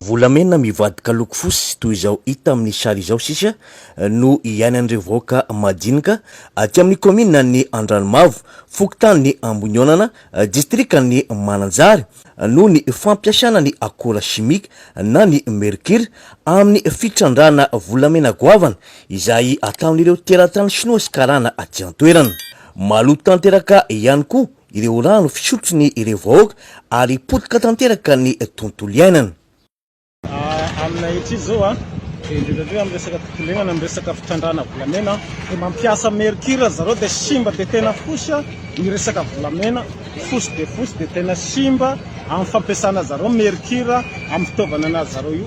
Volamena mivadika loko fosy toy izao hita amin'ny sary izao sisa no iainan'ireo vahoaka madinika aty amin'ny kaomininan'ny Andranomavo, fokontanin'ny Amboniaonana, distrikan'ny Mananjary, noho ny fampiasana ny akora simika na ny mercure amin'ny fitrandrahana volamena goavana izay ataon'ireo teratany Shinoa sy Karana aty an-toerana. Maloto tanteraka ihany koa ireo rano fisotro ny ireo vahoaka ary potika tanteraka ny tontolo iainana. Amina hetry izao a, indrindra indrindra am resaka fikolena na am resaka fitrandrahana volamena dia mampiasa mercure ry zareo dia simba dia tena fosy a, ny resaka volamena fosy dia fosy dia tena simba am fampiasana zareo mercure am fitaovana anazy zareo io.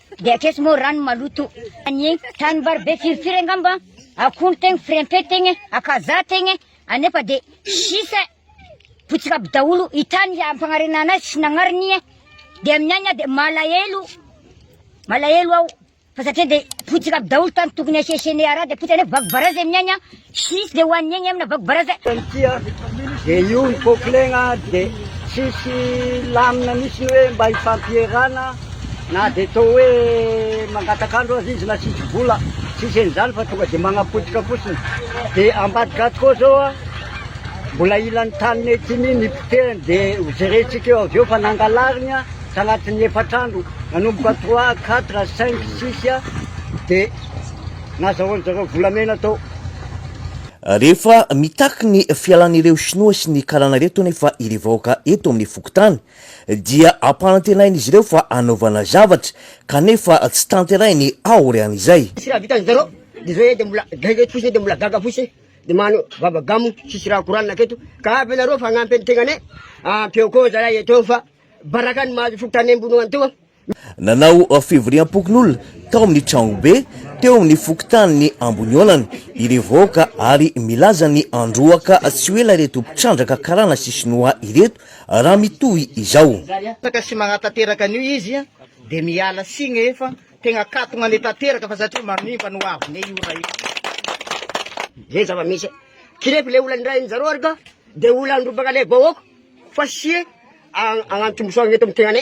Dia akeso moa rano maloto Anie tanimbary be firifiry angamba Akondro tegna firempe tegna Akazaha tegna Anefa de sisa Potsika aby daholo I tany ampanarina anazy sy nagnariny e Dia amin'ny aina de malahelo Malahelo aho Fa satria de potsika aby daholo tany tokony asiasiane araha de potsika nefa vaky barazy amin'ny aina Tsisy izay hoaniny egny amina vago baraza. Tany tia dia io ny popilegna dia tsisy lamina mihitsiny hoe mba hifampierana na dia atao hoe mangataka andro aza izy na tsisy vola tsisy an'izany fa tonga dia magnapotika fotsiny dia ambadika ato koa zao mbola hilan'ny taninay ity mi nipotehany dia hojerentsika eo avy eo fa nangalariny a tagnatin'ny efatra andro nanomboka trois quatre cinq six dia nazahoan-jareo volamena tao. Rehefa mitaky ny fialan'ireo Shinoa sy ny karana ireto anefa ireo vahoaka eto amin'ny fokontany dia ampanantenain'izy ireo fa hanaovana zavatra kanefa tsy tanterahiny aorian'izay. Tsy raha vitan'izareo dia izao ee dia mbola gaga eto fotsiny ee dia mbola gaga fotsiny ee dia mahanao vava gamo tsisy raha koranina aketo ka avy ianareo fagnampy ny tegnanay ampio koa zahay eto fa baraka ny mahazo fokontany ambony ao antoa Nanao fivoriam-pokonolona tao amin'ny tranobe teo amin'ny fokontanin'i Amboniolana ireo vahoaka ary milaza ny handroaka tsy ho ela ireto mpitrandraka karana sy sinoa ireto raha mitohy izao. Betsaka sy manatanteraka an'io izy dia miala siny efa tegna katogna ne tanteraka fa satria manimba ny hoavy ne io raha io. Zay zava-misy e! Kirefi le olany ndray zareo ary ka de olany robaka le vahoaka fa sie agnano tombosoagna eto am tegnane.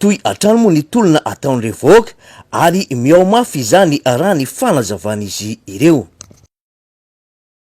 Toy hatrany moa ny tolona ataon'ireo vahoaka ary mihaomafy izany raha ny fanazavan'izy ireo.